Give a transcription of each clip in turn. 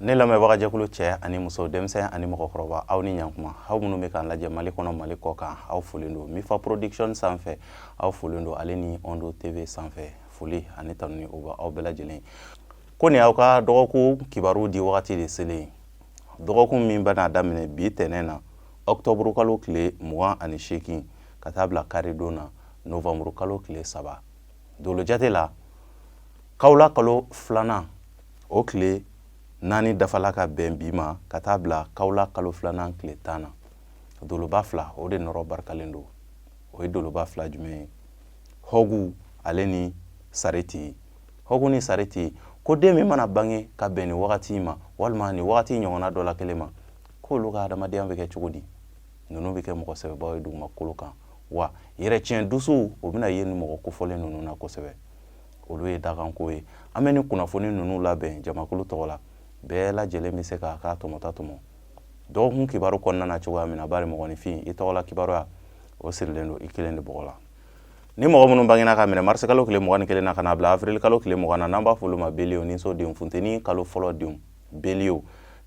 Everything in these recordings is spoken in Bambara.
ne lamɛnbagajɛkulu cɛ ani muso denmisɛn ani mɔgɔkɔrɔba aw ni ɲankuma aw minnu bɛ k'an lajɛ mali kɔnɔ mali kɔkan aw folen don mifa production sanfɛ aw folen don ale ni ondo tv sanfɛ foli ani tanuni o bɛ aw bɛɛ lajɛlen ye ko nin aw ka dɔgɔkun kibaru di wagati de selen ye dɔgɔkun min bɛna daminɛ bi tɛnɛn na ɔktɔburu kalo tile mugan ani seegin ka taa bila karidon na novanburu kalo tile saba dolo jate la kawla kalo filanan o tile naani dafala ka bɛn bi ma ka taa bila kawla kalo filanan tile tan na doloba fila o de nɔrɔ barikalen don o ye doloba fila jumɛn ye hɔgu ale ni sareti hɔgu ni sareti ko den min mana bange ka bɛn nin wagati in ma walima nin wagati in ɲɔgɔnna dɔ la kelen ma k'olu ka adamadenya bɛ kɛ cogo di ninnu bɛ kɛ mɔgɔ sɛbɛbaw ye dugumakolo kan wa yɛrɛtiɲɛ dusuw o bɛna ye nin mɔgɔ kofɔlen ninnu na kosɛbɛ olu ye dakanko ye an bɛ nin kunnafoni ninnu labɛn jamakulu tɔgɔ la bɛɛ lajɛlen bɛ se k'a ka tɔmɔta tɔmɔ dɔgɔkun kibaru kɔnɔna na cogoya min na bari mɔgɔninfin i tɔgɔla kibaruya o sirilen don i kelen de bɔgɔ la ni mɔgɔ minnu bangina ka minɛ marisikalo tile mugan ni kelen na ka n'a bila afirilikalo tile mugan na n'an b'a fɔ olu ma beliye niso denw funteni kalo fɔlɔ denw beliye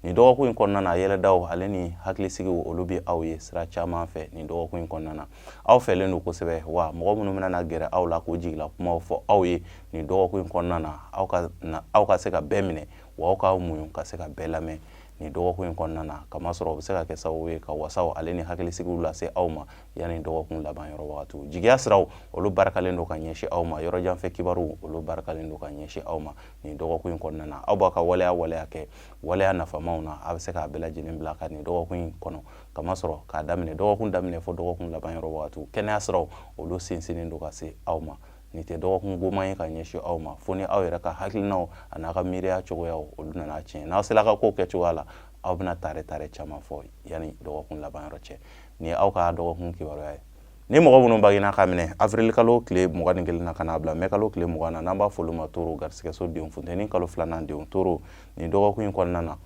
nin dɔgɔkun in kɔnɔna na yɛlɛdaw ale ni hakilisigiw olu bɛ aw ye sira caman fɛ nin dɔgɔkun in kɔnɔna na aw fɛlen don kosɛbɛ wa mɔgɔ minnu bɛna na gɛrɛ aw la k'o jigila kumaw fɔ aw ye nin dɔgɔkun in kɔnɔna na aw ka se ka bɛɛ minɛ wa aw k'aw muɲu ka se ka bɛɛ lamɛn nin dɔgɔkun in kɔnɔna na kamasɔrɔ o bɛ se ka kɛ sababu ye ka wasaw ale ni hakilisigiw lase aw ma yanni dɔgɔkun laban yɔrɔ wagatiw jigiya siraw olu barikalen don ka ɲɛsin aw ma yɔrɔjan fɛ kibaruw olu barikalen don ka ɲɛsin aw ma nin dɔgɔkun in kɔnɔna na aw b'a ka waleya waleya kɛ waleya nafamaw na a bɛ se k'a bɛɛ lajɛlen bila ka nin dɔgɔkun in kɔnɔ kamasɔrɔ k'a daminɛ dɔgɔkun daminɛ fo dɔgɔkun laban yɔrɔ wagatiw kɛnɛya siraw olu sinsinnen don ka se aw ma nin tɛ dɔgɔkun goman ye ka ɲɛsin aw ma fo ni aw yɛrɛ ka hakilinaw an'a ka miiriya cogoyaw olu nana tiɲɛ n'aw sera ka kow kɛ cogoya la aw bɛna tare tare caman fɔ yanni dɔgɔkun laban yɔrɔ cɛ nin ye aw ka dɔgɔkun kibaruya ye ni mɔgɔ minnu bangina ka minɛ avril kalo tile mugan ni kelen na ka n'a bila mɛ kalo tile mugan na n'an b'a fɔ olu ma toro garisigɛso denw funteni kalo filanan denw toro nin dɔgɔkun in kɔnɔna na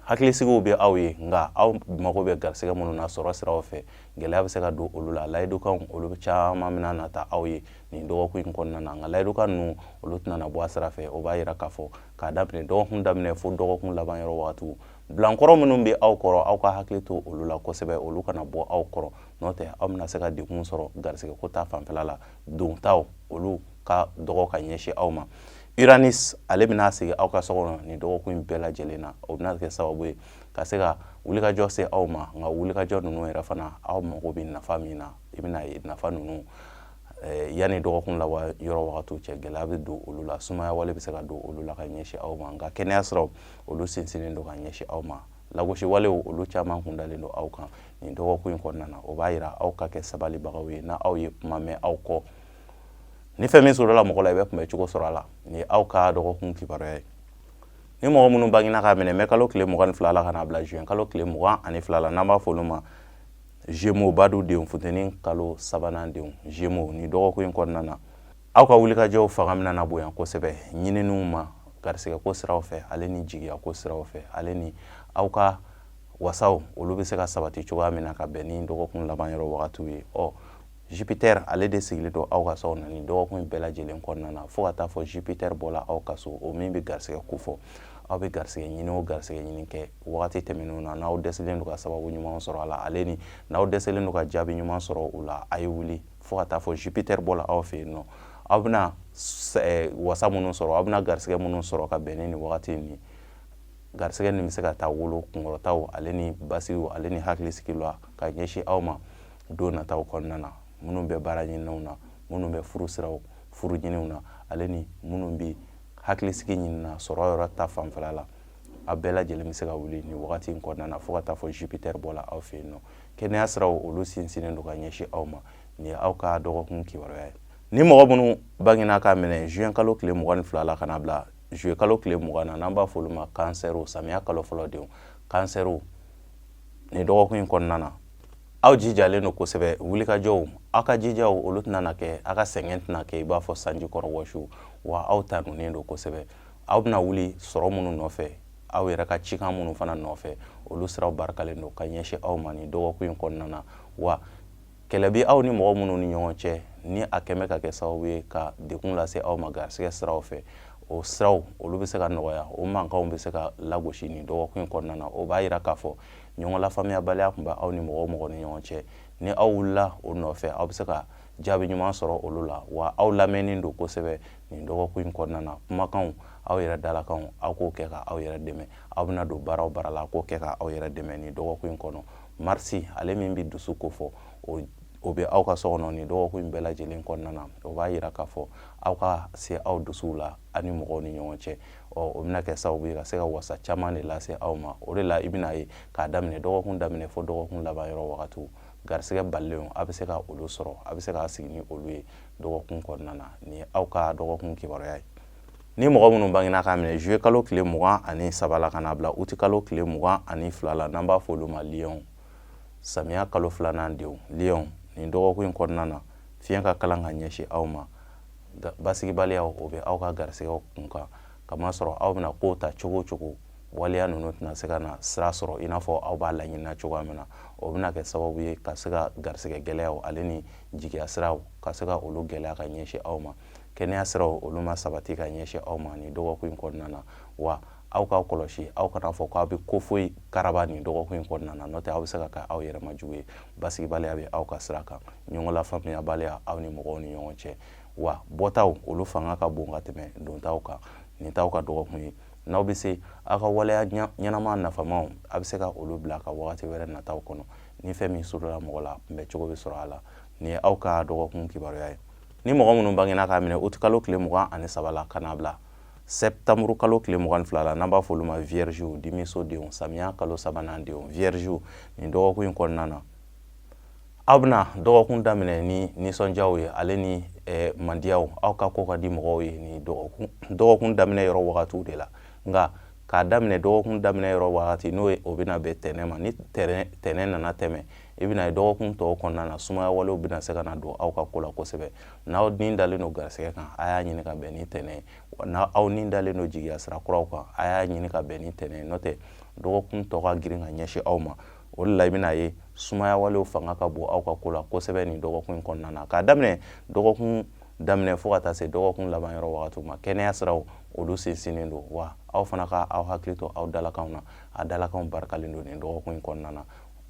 hakilisigiw bɛ aw ye nka aw mago bɛ garisigɛ minnu na sɔrɔ siraw fɛ gɛlɛya bɛ se ka don olu la layidukanw olu caman bɛna na ta aw ye nin dɔgɔkun in kɔnɔna na nka layidukan ninnu olu tɛna na bɔ a sira fɛ o b'a yira k'a fɔ k'a daminɛ dɔgɔkun daminɛ fo dɔgɔkun laban yɔrɔ wagatiw bilankɔrɔ minnu bɛ aw kɔrɔ aw ka hakili to olu la kosɛbɛ olu kana bɔ aw kɔrɔ n'o tɛ aw bɛna se ka degun sɔrɔ garisigɛko ta fanfɛla la dontaw olu ka dɔgɔ ka ɲɛsin aw ma Uranus ale bɛna sigi aw ka so kɔnɔ nin dɔgɔkun in bɛɛ lajɛlen na o bɛna kɛ sababu ye ka se ka wulikajɔ se aw ma nka wulikajɔ ninnu yɛrɛ fana aw mago bɛ nafa min na i bɛna ye nafa ninnu eh, yanni dɔgɔkun laban yɔrɔ wagatiw cɛ gɛlɛya bɛ don olu la sumaya wale bɛ se ka don olu la ka ɲɛsin aw ma nka kɛnɛya siraw olu sinsinnen don ka ɲɛsin aw ma lagosi walew olu caman kun dalen don aw kan nin dɔgɔkun in kɔnɔna na o b'a yira aw ka kɛ sabalibagaw ye n'aw ye kuma mɛn aw kɔ ni fɛn min sɔrɔla mɔgɔ la i bɛ kunbɛn cogo sɔrɔ a la nin ye aw ka dɔgɔkun kibaruya ye ni mɔgɔ minnu bangina k'a minɛ mɛ kalo tile mugan ni fila la ka n'a bila juin kalo tile mugan ani fila la n'an b'a fɔ olu ma Gémeaux badu denw funteni kalo sabanan denw Gémeaux nin dɔgɔkun in kɔnɔna na aw ka wulikajɔw fanga bɛna na bonya kosɛbɛ ɲininiw ma garisigɛko siraw fɛ ale ni jigiyako siraw fɛ ale ni aw ka wasaw olu bɛ se ka sabati cogoya min na ka bɛn ni dɔgɔkun laban yɔrɔ wagatiw ye ɔ jupiter ale de sigilen don aw ka so na nin dɔgɔkun bɛɛ lajɛlen kɔnɔna na fo ka taa fɔ jupiter bɔla aw ka so o min bɛ garisigɛ ko fɔ aw bɛ garisigɛ ɲini o garisigɛ ɲini kɛ wagati tɛmɛnenw na n'aw dɛsɛlen don ka sababu ɲuman sɔrɔ a la ale ni n'aw dɛsɛlen don ka jaabi ɲuman sɔrɔ o la a ye wuli fo ka taa fɔ jupiter bɔla aw fɛ yen nɔ aw bɛna eh, wasa minnu sɔrɔ aw bɛna garisigɛ minnu sɔrɔ ka bɛn ni nin wagati in garisigɛ nin bɛ se ka taa wolo kunkɔrɔtaw ale ni basigiw ale ni hakilisigi la ka ɲɛsin aw ma don nataw kɔnɔna na minnu bɛ baara ɲininiw na minnu bɛ furu siraw furu ɲininiw na ale ni minnu bɛ hakilisigi ɲini na sɔrɔ yɔrɔ ta fanfɛla la a bɛɛ lajɛlen bɛ se ka wuli nin wagati in kɔnɔna na fo ka taa fɔ jupiter bɔla aw fɛ yen nɔ kɛnɛya siraw olu sinsinnen don ka ɲɛsin aw ma nin ye aw ka dɔgɔkun kibaruya ye ni mɔgɔ minnu bangena k'a minɛ juin kalo tile mugan ni fila la ka n'a bila juillet kalo tile mugan na n'an b'a fɔ olu ma kansɛriw samiya kalo fɔlɔ denw kansɛriw nin dɔgɔkun in kɔnɔna na aw jijalen don kosɛbɛ wulikajɔw aw ka jijaw olu tɛna na kɛ aw ka sɛgɛn tɛna kɛ i b'a fɔ sanji kɔrɔ wɔsi wa aw tanunen don kosɛbɛ aw bɛna wuli sɔrɔ minnu nɔfɛ aw yɛrɛ ka cikan minnu fana nɔfɛ olu siraw barikalen don ka ɲɛsin aw ma nin dɔgɔkun in kɔnɔna na wa kɛlɛ bɛ aw ni mɔgɔ minnu ni ɲɔgɔn cɛ ni a kɛmɛ ka kɛ sababu ye ka degun lase aw ma garisigɛ siraw fɛ o siraw olu bɛ se ka nɔgɔya o mankanw bɛ se ka lagosi nin dɔgɔkun in kɔnɔna na o b'a yira k'a fɔ ɲɔgɔn lafaamuyabaliya tun bɛ aw ni mɔgɔ o mɔgɔ ni ɲɔgɔn cɛ ni aw wulila o nɔfɛ aw bɛ se ka jaabi ɲuman sɔrɔ olu la wa aw lamɛnnen don kosɛbɛ nin dɔgɔkun in kɔnɔna na kumakanw aw yɛrɛ dalakanw aw k'o kɛ ka aw yɛrɛ dɛmɛ aw bɛna don baara o baara la k'o kɛ ka aw yɛrɛ dɛmɛ nin dɔgɔkun in kɔnɔ marisi ale min bɛ dusu ko fɔ o bɛ aw ka so kɔnɔ nin dɔgɔkun in bɛɛ lajɛlen kɔnɔna na o b'a yira k'a fɔ aw ka se aw dusuw la ani mɔgɔw ni ɲɔgɔn cɛ ɔ o bɛna kɛ sababu ye ka se ka wasa caman de lase aw ma o de la i bɛna ye k'a daminɛ dɔgɔkun daminɛ fo dɔgɔkun laban yɔrɔ wagatiw garisigɛ balilenw a bɛ se ka olu sɔrɔ a bɛ se k'a sigi ni olu ye dɔgɔkun kɔnɔna na nin ye aw ka dɔgɔkun kibaruya ye ni mɔgɔ minnu bangena k'a minɛ juye kalo tile mugan ani saba la ka n'a bila uti kalo tile mugan ani fila la n'an b'a fɔ olu ma liyɔnw samiya kalo filanan denw liyɔnw nin dɔgɔkun in kɔnɔna na fiɲɛ ka kalan ka ɲɛsin aw ma basigibaliya o bɛ aw ka garisɛgɛw kun kan kamasɔrɔ aw bɛna kow ta cogo o cogo waleya ninnu tɛna se ka na sira sɔrɔ i n'a fɔ aw b'a laɲinina cogoya min na o bɛna kɛ sababu ye ka se ka garisɛgɛ gɛlɛyaw ale ni jigiya siraw ka se ka olu gɛlɛya ka ɲɛsin aw ma kɛnɛya siraw olu ma sabati ka ɲɛsin aw ma nin dɔgɔkun in kɔnɔna na wa aw k'aw kɔlɔsi aw kana fɔ k'aw bɛ ko foyi karaba nin dɔgɔkun in kɔnɔna na n'o tɛ aw bɛ se ka kɛ aw yɛrɛ ma jugu ye basigibaliya bɛ aw ka sira kan ɲɔgɔn lafaamuyabaliya aw ni mɔgɔw ni ɲɔgɔn cɛ wa bɔtaw olu fanga ka bon ka tɛmɛ dontaw kan nin t'aw ka dɔgɔkun ye n'aw bɛ se aw ka waleya ɲɛnama nafamaw a bɛ se ka olu bila ka wagati wɛrɛ nataw kɔnɔ ni fɛn min sarala mɔgɔ la kunbɛn cogo bɛ sɔrɔ a la nin ye aw ka dɔgɔkun kibaruya ye ni mɔgɔ minnu bangena k'a minɛ uti kalo tile mugan ani saba la ka n'a bila sɛtanburu kalo tile mugan ni fila la n'an b'a fɔ olu ma viergew dimiso denw samiya kalo sabanan denw viergew nin dɔgɔkun in kɔnɔna na aw bɛna dɔgɔkun daminɛ ni nisɔndiyaw ye ale ni eh, mandiyaw aw ka ko ka di mɔgɔw ye ni dɔgɔkun daminɛ yɔrɔ wagatiw de la nka k'a daminɛ dɔgɔkun daminɛ yɔrɔ wagati n'o ye o bɛna bɛn tɛnɛ ma ni tɛnɛ nana tɛmɛ i bɛna ye dɔgɔkun tɔw kɔnɔna na sumaya walew bɛna se ka na don aw ka ko la kosɛbɛ n'aw ni dalen don garisɛgɛ kan a y'a ɲini ka bɛn ni tɛnɛ ye wa n'a aw ni dalen don jigiya sira kuraw kan a y'a ɲini ka bɛn ni tɛnɛ ye n'o tɛ dɔgɔkun tɔ ka girin ka ɲɛsin aw ma o de la i bɛna ye sumaya walew fanga ka bon aw ka ko la kosɛbɛ nin dɔgɔkun in kɔnɔna na k'a daminɛ dɔgɔkun daminɛ fo ka taa se dɔgɔkun laban yɔrɔ wagatiw ma kɛnɛya siraw olu sinsinnen don wa aw fana ka aw hakili to aw dalakanw na a dalakanw barikalen don nin dɔgɔkun in kɔnɔna na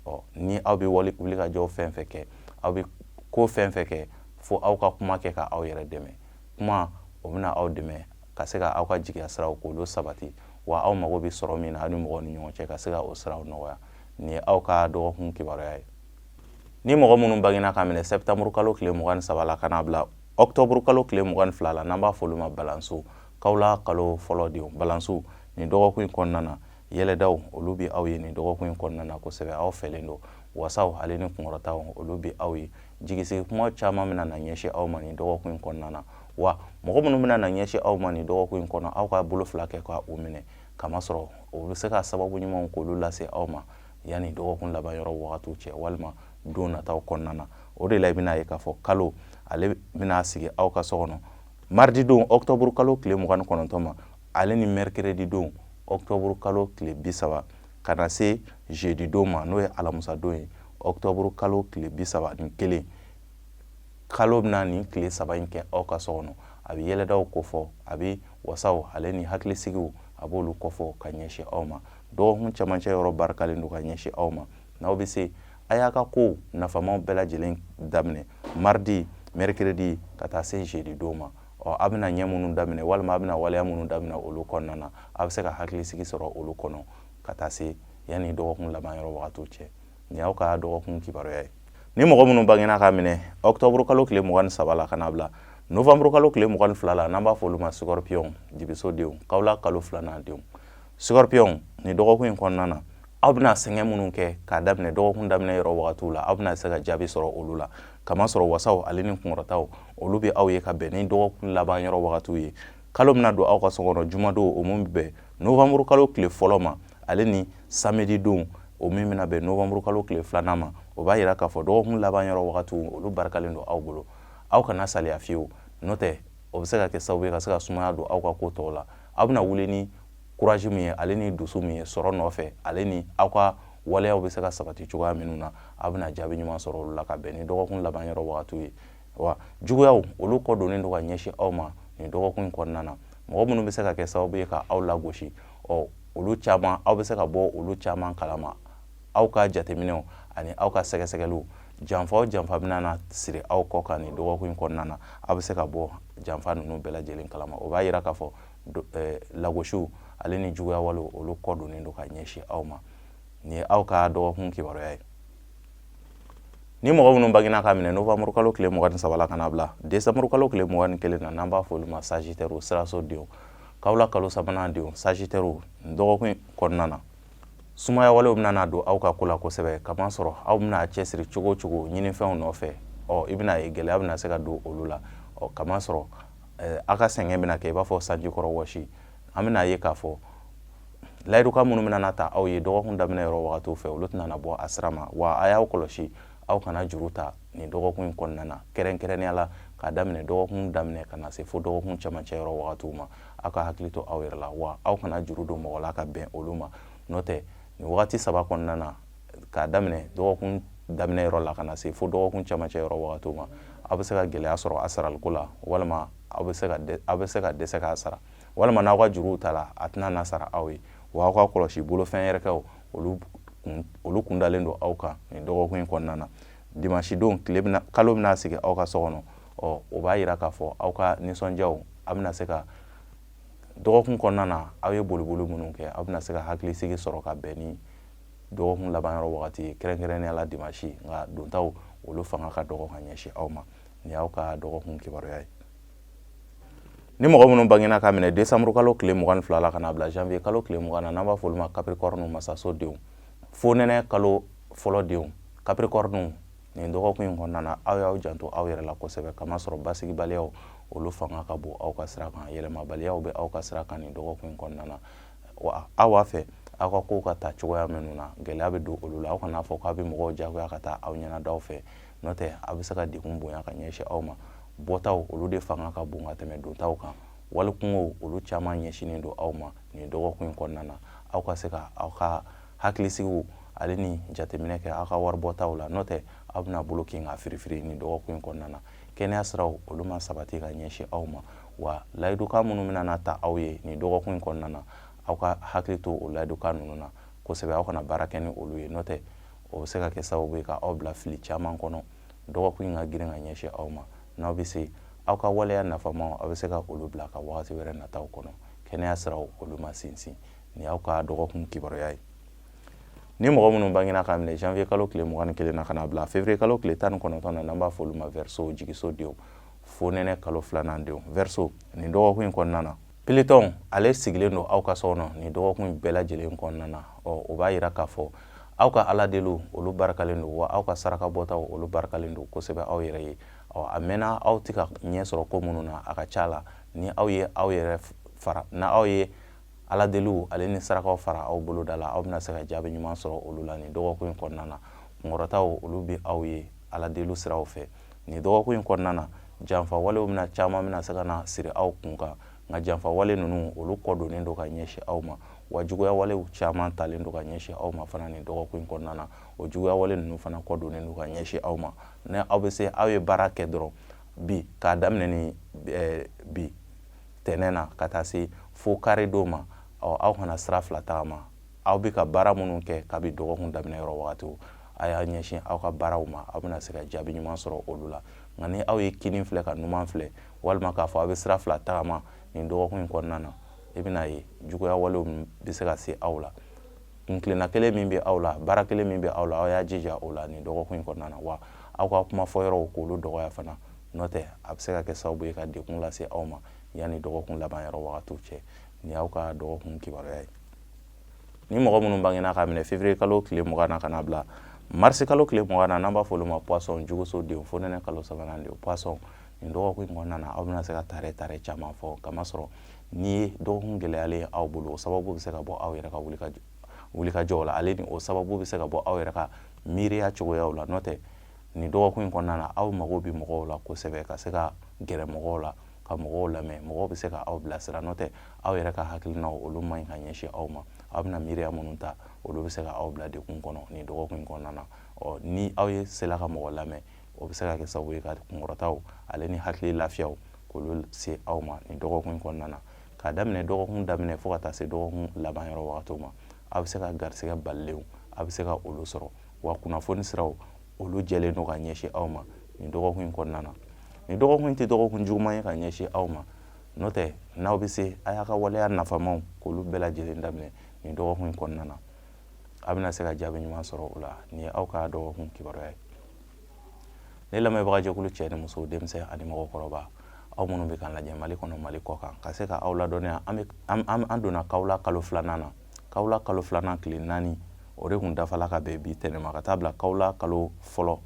ɔ ni aw bɛ wuli ka jɔ fɛn fɛn kɛ aw bɛ ko fɛn fɛn kɛ fo aw ka kuma kɛ ka aw yɛrɛ dɛmɛ kuma o bɛna aw dɛmɛ ka se ka aw ka jigiya siraw k'olu sabati wa aw mago bɛ sɔrɔ min na aw ni mɔgɔw ni ɲɔgɔn cɛ ka se ka o siraw nɔgɔya nin ye aw ka dɔgɔkun kibaruya ye ni mɔgɔ minnu bangena k'a minɛ sɛtanburu kalo tile mugan ni saba la ka n'a bila ɔkutɔburu kalo tile mugan ni fila la n'an b'a fɔ olu ma balansiw kawule kalo fɔlɔ denw balansiw nin dɔgɔkun in kɔnɔna na yɛlɛdaw olu bɛ aw ye nin dɔgɔkun in kɔnɔna na kosɛbɛ aw fɛlen don wasaw ale ni kunkɔrɔtaw olu bɛ aw ye jigisigi kuma caman bɛna na ɲɛsin aw ma nin dɔgɔkun in kɔnɔna na wa mɔgɔ minnu bɛna na ɲɛsin aw ma nin dɔgɔkun in kɔnɔ aw ka bolo fila kɛ ka u minɛ kamasɔrɔ o bɛ se ka sababu ɲumanw k'olu lase aw ma yanni dɔgɔkun laban yɔrɔ wagatiw cɛ walima don nataw kɔnɔna na o de la i bɛna ye k'a fɔ kalo ale bɛna sigi aw ka so kɔnɔ mardi don ɔkutɔburu kalo tile mugan ni kɔnɔntɔn ma ale ni mercredi don ɔktɔburu kalo tile bi saba ka na se jeudi don ma n'o ye alamusadon ye ɔktɔburu kalo tile bi saba ni kelen kalo bɛna nin tile saba in kɛ aw ka so kɔnɔ a bɛ yɛlɛdaw kofɔ a bɛ wasaw ale ni hakilisigiw a b'olu kofɔ ka ɲɛsin aw ma dɔgɔkun camancɛ yɔrɔ barikalen don ka ɲɛsin aw ma n'aw bɛ se a y'a ka kow nafamaw bɛɛ lajɛlen daminɛ mardi mercredi ka taa se jeudi don ma ɔ a bɛna ɲɛ minnu daminɛ walima a bɛna waleya minnu daminɛ olu kɔnɔna na a bɛ se ka hakilisigi sɔrɔ olu kɔnɔ ka taa se yanni dɔgɔkun laban yɔrɔ wagatiw cɛ nin y'aw ka dɔgɔkun kibaruya ye ni mɔgɔ minnu bangena k'a minɛ ɔkutɔburu kalo tile mugan ni saba la ka n'a bila novanburu kalo tile mugan ni fila la n'an b'a fɔ olu ma scorpion dibiso denw kawla kalo filanan denw scorpion nin dɔgɔkun in kɔnɔna na aw bɛna sɛgɛn minnu kɛ k'a daminɛ dɔgɔkun daminɛ yɔrɔ wagatiw la aw bɛna se ka jaabi sɔrɔ olu la kamasɔrɔ wasaw ale ni kunkɔrɔtaw olu bɛ aw ye ka bɛn ni dɔgɔkun laban yɔrɔ wagatiw ye kalo bɛna don aw ka so kɔnɔ jumadon o min bɛ bɛn novanburu kalo tile fɔlɔ ma ale ni samedi don o min bɛna bɛn novanburu kalo tile filanan ma o b'a yira k'a fɔ dɔgɔkun laban yɔrɔ wagatiw olu barikalen don aw bolo aw kana saliya fiyewu n'o tɛ o bɛ se ka kɛ sababu ye ka se ka sumaya don aw ka ko tɔw la aw bɛna wuli ni courage min ye ale ni dusu min ye sɔrɔ nɔfɛ ale ni aw ka waleyaw bɛ se ka sabati cogoya minnu na aw bɛna jaabi ɲuman sɔrɔ olu la ka bɛn ni dɔgɔkun laban yɔrɔ wagatiw ye wa juguyaw olu kɔ donnen don ka ɲɛsin aw ma nin dɔgɔkun in kɔnɔna na mɔgɔ minnu bɛ se ka kɛ sababu ye ka aw lagosi ɔ olu caman aw bɛ se ka bɔ olu caman kalama aw ka jateminɛw ani aw ka sɛgɛsɛgɛliw janfa o janfa bɛna na siri aw kɔ kan nin dɔgɔkun in kɔnɔna na aw bɛ se ka bɔ janfa ninnu bɛɛ lajɛlen kalama o b'a yira k'a fɔ eh, lagosiw ale ni juguya walew olu kɔ donnen don ka ɲɛsin aw ma nin ye aw ka dɔgɔkun kibaruya ye ni mɔgɔ minnu bangena k'a minɛ novanburu kalo tile mugan ni saba la ka n'a bila desanburu kalo tile mugan ni kelen na n'an b'a fɔ olu ma sagittaire siraso denw kawla kalo sabanan denw sagittaire dɔgɔkun kɔnɔna na sumaya walew bɛna don aw ka ko la kosɛbɛ kamasɔrɔ aw bɛna cɛsiri cogo o cogo ɲininfɛnw nɔfɛ ɔ i bɛna ye gɛlɛya bɛna se ka don olu la ɔ kamasɔrɔ eh, a ka sɛgɛn bɛna kɛ i b'a fɔ sanji kɔrɔ wɔsi an bɛna ye k'a fɔ layidukan minnu bɛna na ta aw ye dɔgɔkun daminɛ yɔrɔ wagatiw fɛ olu tɛna na bɔ a sira ma wa a y'aw kɔlɔsi aw kana juru ta nin dɔgɔkun in kɔnɔna na kɛrɛnkɛrɛnnenya la k'a daminɛ dɔgɔkun daminɛ ka na se fo dɔgɔkun camancɛ yɔrɔ wagatiw ma aw ka hakili to aw yɛrɛ la wa aw kana juru don mɔgɔ la ka bɛn olu ma n'o tɛ nin wagati saba kɔnɔna na k'a daminɛ dɔgɔkun daminɛ yɔrɔ la ka na se fo dɔgɔkun camancɛ yɔrɔ wagatiw ma aw bɛ se ka gɛlɛya sɔrɔ a saraliko la walima aw bɛ se ka aw bɛ se ka dɛsɛ k'a sara walima n'aw ka juruw ta la a tɛna na sara aw ye wa aw ka kɔlɔsi bolofɛn yɛrɛkɛw olu kun olu kundalen don aw kan nin dɔgɔkun in kɔnɔna na dimanche don tile bɛna kalo bɛna sigi aw ka so kɔnɔ ɔ o b'a yira k'a fɔ aw ka nisɔndiyaw a bɛna se ka dɔgɔkun kɔnɔna na aw ye boliboli minnu kɛ aw bɛna se ka hakilisigi sɔrɔ ka bɛn ni dɔgɔkun laban yɔrɔ wagati ye kɛrɛnkɛrɛnnenya la dimansi nka dontaw olu fanga ka dɔgɔ ka ɲɛsin aw ma nin y'aw ka dɔgɔkun kibaruya ye ni mɔgɔ minnu bangena ka minɛ desanburu kalo tile mugan ni fila la ka na bila janvier kalo tile mugan na n'an b'a f'olu ma capricorne masaso denw fonɛnɛ kalo fɔlɔ denw capricorne nin dɔgɔkun in kɔnɔna na aw y'aw janto aw yɛrɛ la kosɛbɛ k'a masɔrɔ basigibaliyaw olu fanga ka bon aw ka sira kan yɛlɛmabaliyaw bɛ aw ka sira kan nin dɔgɔkun in kɔnɔna na wa aw b'a fɛ aw ka kow ka taa cogoya minnu na gɛlɛya bɛ don olu la aw kan'a fɔ k'aw bɛ mɔgɔw jagoya ka taa aw ɲɛnadaw fɛ n'o tɛ aw bɛ se ka degun bonya ka ɲɛsin aw ma bɔtaw olu de fanga ka bon ka tɛmɛ dontaw kan wali kunkow olu caman ɲɛsinnen don aw ma nin dɔgɔkun in kɔnɔna na aw ka se ka aw ka hakilisigiw ale ni jateminɛ kɛ aw ka wari bɔtaw la n'o tɛ aw bɛna bolo kin ka firifiri nin dɔgɔkun in kɔnɔna na kɛnɛya siraw olu ma sabati ka ɲɛsin aw ma wa layidukan minnu bɛna na ta aw ye nin dɔgɔkun in kɔnɔna na aw ka hakili to o layidukan ninnu na kosɛbɛ aw kana baara kɛ ni olu ye n'o tɛ o bɛ se ka kɛ sababu ye ka aw bila fili caman kɔnɔ dɔgɔkun in ka girin ka ɲɛsin aw ma n'aw bɛ se aw ka waleya nafamaw aw bɛ se ka olu bila ka wagati wɛrɛ nataw kɔnɔ kɛnɛya siraw olu ma sinsin nin y'aw ka dɔgɔkun kibaruya ye ni mɔgɔ minnu bangena ka minɛ janvier kalo tile mugan ni kelen na ka na bila février kalo tile tan ni kɔnɔntɔn na n'an b'a fɔ olu ma verseau jigiso denw fonɛnɛ kalo filanan denw verseau nin dɔgɔkun in kɔnɔna na pilitɔn ale sigilen don aw ka so kɔnɔ nin dɔgɔkun in bɛɛ lajɛlen kɔnɔna na ɔ o b'a yira k'a fɔ aw ka ala deliw olu barikalen don wa aw ka saraka bɔtaw olu barikalen don kosɛbɛ aw yɛrɛ ye ɔ a mɛnna aw tɛ ka ɲɛ sɔrɔ ko minnu na a ka ca la ni aw ye aw yɛrɛ fara n'aw ye ala deliw ale ni sarakaw fara aw boloda la aw bɛna se ka jaabi ɲuman sɔrɔ olu la nin dɔgɔkun in kɔnɔna na kunkɔrɔtaw olu bɛ aw ye ala deliw siraw fɛ nin dɔgɔkun in kɔnɔna na janfawalew bɛna caman bɛna se ka na siri aw kun kan nka janfawale ninnu olu kɔ donnen don ka ɲɛsin aw ma wa juguyawalew caman talen don ka ɲɛsin aw ma fana nin dɔgɔkun in kɔnɔna na o juguyawale ninnu fana kɔ donnen don ka ɲɛsin aw ma ni aw bɛ se aw ye baara kɛ dɔrɔn bi k'a daminɛ ni eh, bi tɛnɛn na ka taa se fo kari don ma ɔ aw kana sira fila tagama aw bɛ ka baara minnu kɛ kabi dɔgɔkun daminɛ yɔrɔ wagati a y'a ɲɛsin aw ka baaraw ma aw bɛna se ka jaabi ɲuman sɔrɔ olu la nka ni aw ye kini filɛ ka numan filɛ walima k'a fɔ aw bɛ sira fila tagama nin dɔgɔkun in kɔnɔna na i bɛna ye juguya walew bɛ se ka se aw la kuntilenna kelen min bɛ aw la baara kelen min bɛ aw la aw y'a jija o la nin dɔgɔkun in kɔnɔna na wa aw ka kuma fɔ yɔrɔw k'olu dɔgɔya fana n'o tɛ a bɛ se ka kɛ sababu ye ka degun lase aw ma yanni dɔgɔkun laban yɔrɔ wagatiw cɛ nin y'aw ka dɔgɔkun kibaruya ye ni mɔgɔ minnu bangena k'a minɛ février kalo tile mugan na ka na bila marisi kalo tile mugan na n'an b'a fɔ olu ma poisson juguso denw fonɛnɛ kalo sabanan denw poisson nin dɔgɔkun in kɔnɔna na aw bɛna se ka tare tare caman fɔ kamasɔrɔ nin ye dɔgɔkun gɛlɛyalen ye aw bolo o sababu bɛ se ka bɔ aw yɛrɛ ka wulikajɔ wulikajɔw la ale ni o sababu bɛ se ka bɔ aw yɛrɛ ka miiriya cogoyaw la n'o tɛ nin dɔgɔkun in kɔnɔna na aw mago bɛ mɔgɔw la kosɛbɛ ka se ka gɛrɛ mɔgɔw la ka mɔgɔw lamɛn mɔgɔw bɛ se ka aw bilasira n'o tɛ aw yɛrɛ ka hakilinaw olu man ɲi ka ɲɛsin aw ma aw bɛna miiriya minnu ta olu bɛ se ka aw bila degun kɔnɔ nin dɔgɔkun in kɔnɔna na ɔ ni aw ye sela ka mɔgɔ lamɛn o bɛ se ka kɛ sababu ye ka kunkɔrɔtaw ale ni hakili lafiyaw k'olu se aw ma nin dɔgɔkun in kɔnɔna na k'a daminɛ dɔgɔkun daminɛ fo ka taa se dɔgɔkun laban yɔrɔ wagatiw ma aw bɛ se ka garisigɛ balilenw aw bɛ se ka olu sɔrɔ wa kunnafoni siraw olu jɛlen don ka ɲɛsin aw ma nin dɔgɔkun in kɔnɔna na nin dɔgɔkun in tɛ dɔgɔkun juguman ye ka ɲɛsin aw ma n'o tɛ n'aw bɛ se a y'a ka waleya nafamaw k'olu bɛɛ lajɛlen daminɛ nin dɔgɔkun in kɔnɔna na a bɛna se ka jaabi ɲuman sɔrɔ o la nin ye aw ka dɔgɔkun kibaruya ye ne lamɛnbaga jɛkulu cɛ ni muso denmisɛn ani mɔgɔkɔrɔba aw minnu bɛ k'an lajɛ mali kɔnɔ mali kɔkan ka se ka aw ladɔnniya an donna kawula kalo filanan na kawula kalo filanan tile naani o de kun dafala ka bɛn bi tɛnɛn ma ka taa bila kawula kalo fɔlɔ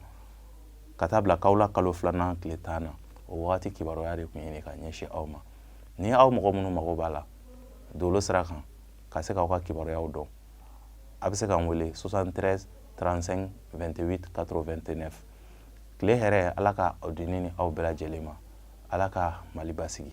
ka taa bila kawula kalo filanan tile tan na o wagati kibaruya de kun ye nin ye ka ɲɛsin aw ma ni aw mɔgɔ minnu mago b'a la dolo sira kan ka se k'aw ka kibaruyaw dɔn a bɛ se k'an wele 73 35 28 89 tile hɛrɛ ala k'a di ne ni aw bɛɛ lajɛlen ma ala ka mali basigi